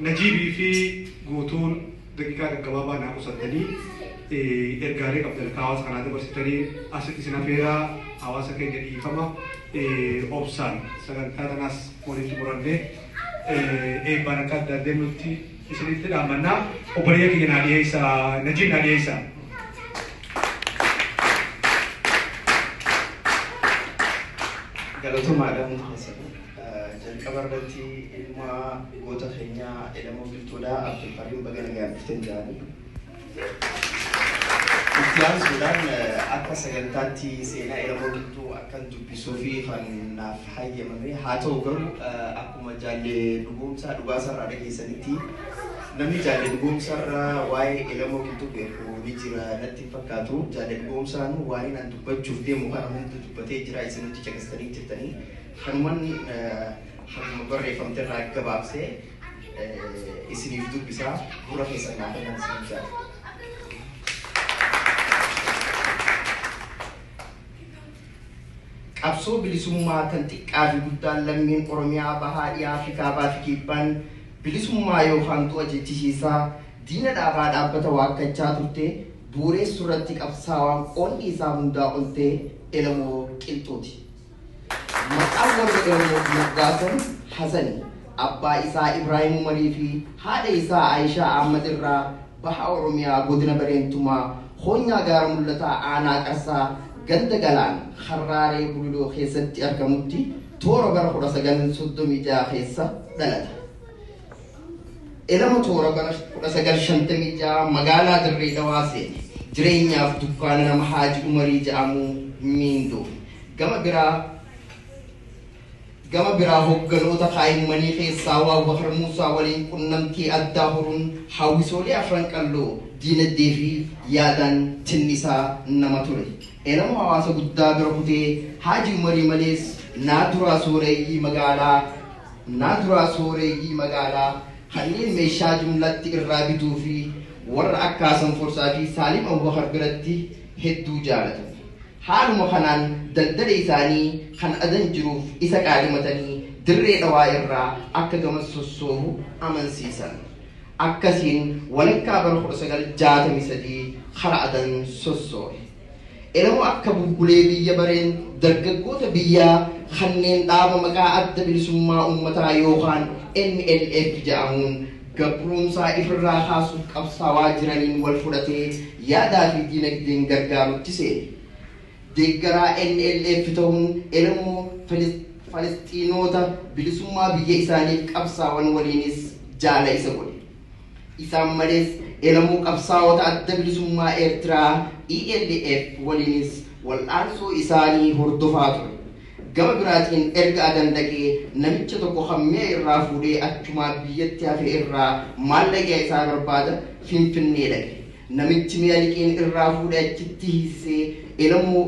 Najiibii fi guutuun daqiiqaa gaggabaabaa naa qusattanii eh, ergaalee qabdan akka hawaasa kanaa dabarsitanii asitti isin afeeraa hawaasa keenya dhiifama eh, obsaan sagantaa kanaas walitti murannee eh, eebbaan akka adda addeen nutti isinitti dhaamannaa obboleeyya keenya naa dhiyeessa najiib naa dhiyeessa. Galatomaadha Muhammad. Jalqaba irratti ilma goota keenyaa Elemoo Qilxuudhaa Abdulkariim baga nagaan dhuftan jedhanii. Itti aansuudhaan akka sagantaatti seenaa Elemoo Qilxuu akkan dubbisuu fi kan naaf hayyamame haa ta'u garuu akkuma jaalle dhugoomsaa dhugaasarraa dhageessanitti namni jaalle dhugoomsarraa waa'ee Elemoo Qilxuu beeku ni jira natti hin fakkaatu. Jaalle dhugoomsaan waa'een an dubbachuuf deemu kana hundi dubbatee jira isin hundi caqastanii jirtanii. Kanuman haguma barreeffamte irraa gabaabsee isiniif dubbisaa gurra keessan naa kennan isiniin jaata. Qabsoo bilisummaa kan xiqqaa fi guddaan lammiin Oromiyaa bahaa dhiyaa fi kaabaa fi kibbaan bilisummaa yookaan du'a jechisiisaa diina dhaabaa dhaabbata waakkachaa turte buureessu irratti qabsaawaan qoonni isaa hundaa oltee elamoo qilxuuti. Maqaan warra Oromoo Moggaasuun Hasani abbaa isaa Ibraahim Umarii fi haadha isaa Ayishaa Ahmad irraa Baha Oromiyaa Godina Bareentumaa Koonyaa Gaara Mul'ataa Aanaa Qarsaa Ganda Galaan Harraaree Bululoo keessatti argamutti toora bara 1936 keessa dhalate. Elama toora bara 1956 magaalaa Dirree Dhawaa seene. Jireenyaaf dukkaana nama Haaji Umarii jedhamuu miindoome. Gama biraa gama biraa hogganoota kaa'immanii keessaa waa Bakar Muusaa waliin qunnamtii addaa horuun hawwisoolee afran qalloo diinagdee fi yaadaan tinnisaa nama ture. Elama hawaasa guddaa bira kutee Haaji Umarii malees naa duraa sooreyyii magaalaa Qonnaan duraa sooreeyyii magaalaa kanneen meeshaa jumlatti irraa bituu fi warra akka Hasan Forsaa fi Saalim Abubakar biratti hedduu jaalatan. Haaluma kanaan daldala isaanii kan adan jiruuf isa qaadimatanii Dirree Dhawaa irraa akka gamas sossoobu amansiisan. Akkasiin walakkaa bara 1963 kara adan sossoohe. Elemoo akka bubbulee biyya bareen dargaggoota biyyaa kanneen dhaaba maqaa Adda Bilisummaa Uummataa yookaan NLF ja'amuun gabruumsaa ifirraa kaasuuf qabsaawaa jiraniin wal fudhatee yaadaa fi diinagdeen gargaarutti seene. Deeggaraa NLF ta'uun Elemoo Falisxiinoota bilisummaa biyya isaaniif qabsaawan waliinis jaala isa godhe. Isaan malees Elemoo Qabsaa'ota Adda Bilisummaa Eertiraa, ELF, waliinis wal'aansoo isaanii hordofaa ture. Gama biraatiin erga Adan dhaqee namicha tokko kan mi'a irraa fuudhee achumaa biyyatti hafe irraa maallaqa isaa barbaada Finfinnee dhaqe. Namichi mi'a liqiin irraa fuudhe achitti hiisisee Elemoo.